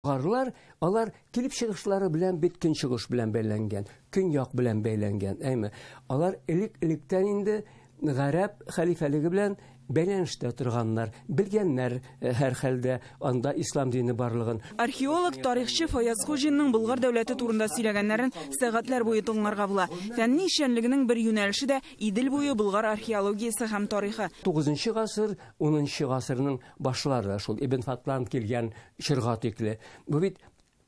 Гарлар, алар килеп чыгышлары белән бит көнчыгыш белән бәйләнгән, көньяк белән бәйләнгән, әйме. Алар элек-электән инде гарәп хәлифәлеге белән бәйләнештә торганнар, белгәннәр, э, һәрхәлдә, анда ислам дине барлыгын. Археолог, тарихчы Фаяз Хуҗинның Болгар дәүләте турында сөйләгәннәрен сәгатьләр буе тыңларга була. Фәнни эшчәнлегенең бер юнәлеше дә, Идел буе Болгар археологиясе һәм тарихы. Тугызынчы гасыр, унынчы гасырның башлары шул Ибн Фатлан килгән чорга тикле. Бу бит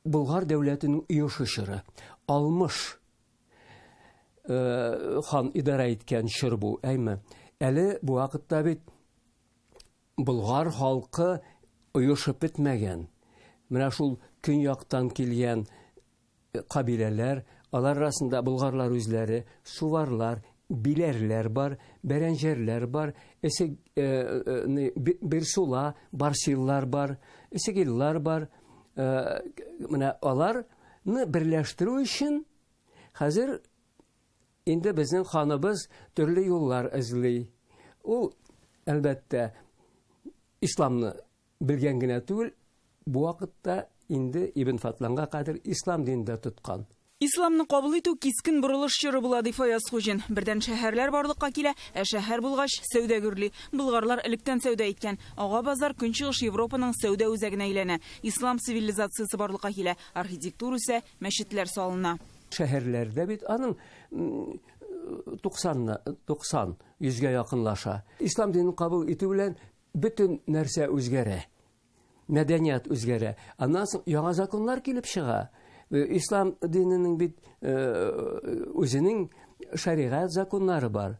Болгар дәүләтенең оешы чоры. Алмыш э, хан идарә иткән чор бу, әйме? Әле бу вакытта бит Болгар халкы оешып бетмәгән. Менә шул көньяктан килгән кабиләләр, алар арасында болгарлар үзләре, суварлар, биләрләр бар, бәрәнҗәрләр бар, эсег, э, э, э бирсула, барсиллар бар, эсегиллар бар. Э, менә аларны берләштерү өчен хәзер инде безнең ханыбыз төрле юллар эзли. Ул, әлбәттә, исламны Белгән генә түгел, бу вакытта инде Ибн Фатланга кадәр ислам динен дә тоткан. Исламны кабул итү кискен борылыш чоры була, ди Фаяз Хуҗин. Бердән шәһәрләр барлыкка килә, ә шәһәр булгач, сәүдә гөрли. Болгарлар электән сәүдә иткән. Ага базар Көнчыгыш Европаның сәүдә үзәгенә әйләнә. Ислам цивилизациясе барлыкка килә, архитектура үсә, мәчетләр салына. Шәһәрләрдә бит аның 90 90, йөзгә якынлаша. Ислам динен кабул итү белән Бөтен нәрсә үзгәрә. Мәдәният үзгәрә. Аннан соң яңа законнар килеп чыга. Э, ислам диненең бит э, үзенең шәригать законнары бар.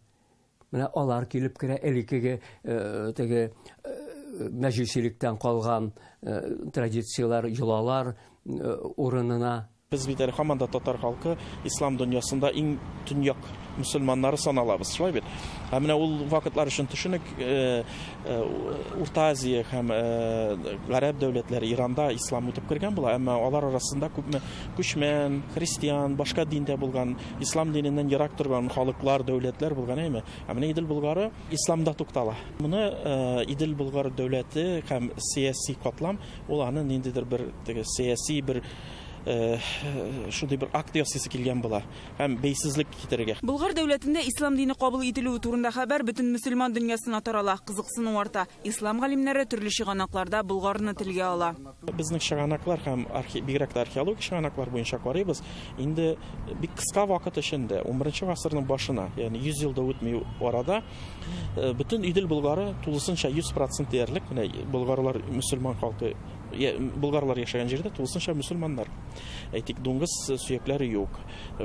Менә алар килеп керә элеккеге э, теге мәҗүсилектән калган традицияләр, йолалар урынына Без бит әле һаман да татар халкы ислам дөньясында иң төньяк мөселманнары саналабыз, шулай бит? Ә менә ул вакытлар өчен төшенек, э, э, Урта Азия һәм э, гарәп дәүләтләре Иранда ислам үтеп кергән була, әмма алар арасында күпме күчмән, христиан, башка диндә булган, ислам диненнән ерак торган халыклар, дәүләтләр булган әйме. Ә менә Идел Болгары исламда туктала. Моны Идел Болгар дәүләте һәм сәяси катлам ул аны ниндидер бер сәяси бер шундый бер акт ясыйсы килгән була һәм бәйсезлек китерергә. Болгар дәүләтендә ислам дине кабул ителүе турында хәбәр бөтен мөселман дөньясына тарала, кызыксыну арта. Ислам галимнәре төрле чыганакларда Болгарны телгә ала. Безнең чыганаклар һәм бигрәк тә археологик чыганаклар буенча карыйбыз, инде бик кыска вакыт эчендә, 11 гасырның башына, ягъни 100 ел да үтми арада, бөтен Идел Болгары тулысынча 100% диярлек, менә болгарлар мөселман халкы Болгарлар яшәгән җирдә тулысынча мөселманнар. Әйтик, дуңгыз сөякләре юк.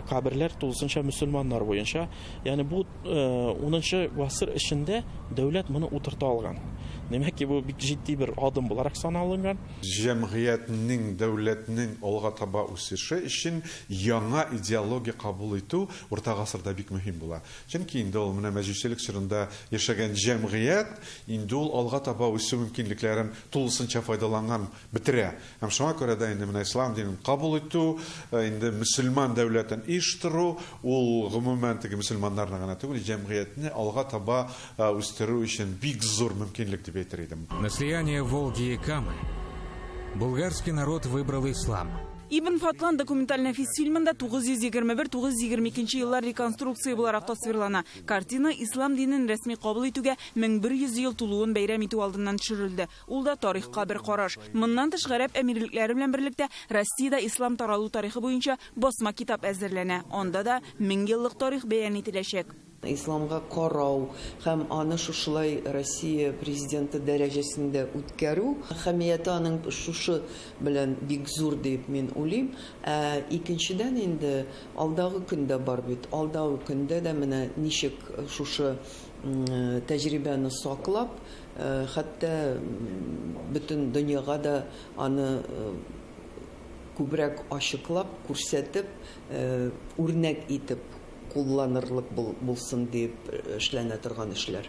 Каберләр тулысынча мөселманнар буенча. Ягъни бу 10нчы э, гасыр эчендә дәүләт моны утырта алган. Димәк ки, бу бик җитди бер адым буларак саналынган. Җәмгыятьнең, дәүләтнең алга таба үсеше өчен яңа идеология кабул итү урта гасырда бик мөһим була. Чөнки инде ул менә мәҗүсилек чорында яшәгән җәмгыять, инде ул алга таба үсү мөмкинлекләрен тулысынча файдаланган, бетерә. Һәм шуңа күрә дә инде менә ислам динен кабул итү, инде мөселман дәүләтен оештыру, ул гомумән теге мөселманнарны гына түгел, җәмгыятьне алга таба үстерү өчен бик зур мөмкинлек дип әйтер идем. На слияние Волги и Камы булгарский народ выбрал ислам. Ибн Фатлан документаль нәфис фильмында 921-922 еллар реконструкция буларак тасвирлана. Картина ислам динен рәсми кабул итүгә 1100 ел тулуын бәйрәм итү алдыннан төшерелде. Ул да тарихка бер караш. Моннан тыш, гарәп әмирлекләре белән берлектә Россиядә ислам таралу тарихы буенча басма китап әзерләнә. Анда да мең еллык тарих бәян ителәчәк. Исламга карау һәм аны шушылай Россия Президенты дәрәҗәсендә үткәрү әһәмияте аның шушы белән бик зур дип мин уйлыйм. Ә икенчедән инде Алдагы көн дә бар бит. Алдагы көндә дә менә ничек шушы тәҗрибәне саклап, хәтта бөтен дөньяга да аны күбрәк ачыклап, күрсәтеп, үрнәк итеп кулланырлык булсын диеп эшләнә торган эшләр.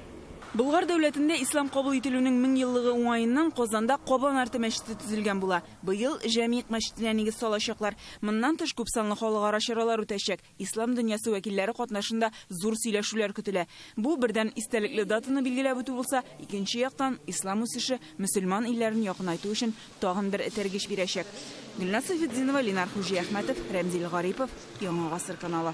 Болгар дәүләтендә ислам кабул ителүнең меңьеллыгы уңаеннан Казанда Кабан арты мәчете төзелгән була. Быел Җәмигъ мәчетенә нигез салачаклар. Моннан тыш, күпсанлы халыкара чаралар үтәчәк. Ислам дөньясы вәкилләре катнашында зур сөйләшүләр көтелә. Бу, бердән, истәлекле датаны билгеләп үтү булса, икенче яктан, ислам үсеше, мөселман илләрен якынайту өчен тагын бер этәргеч бирәчәк. Гөлназ Сәйфетдинова, Ленар Хуҗиәхмәтов, Рәмзил Гарипов, Яңа гасыр каналы.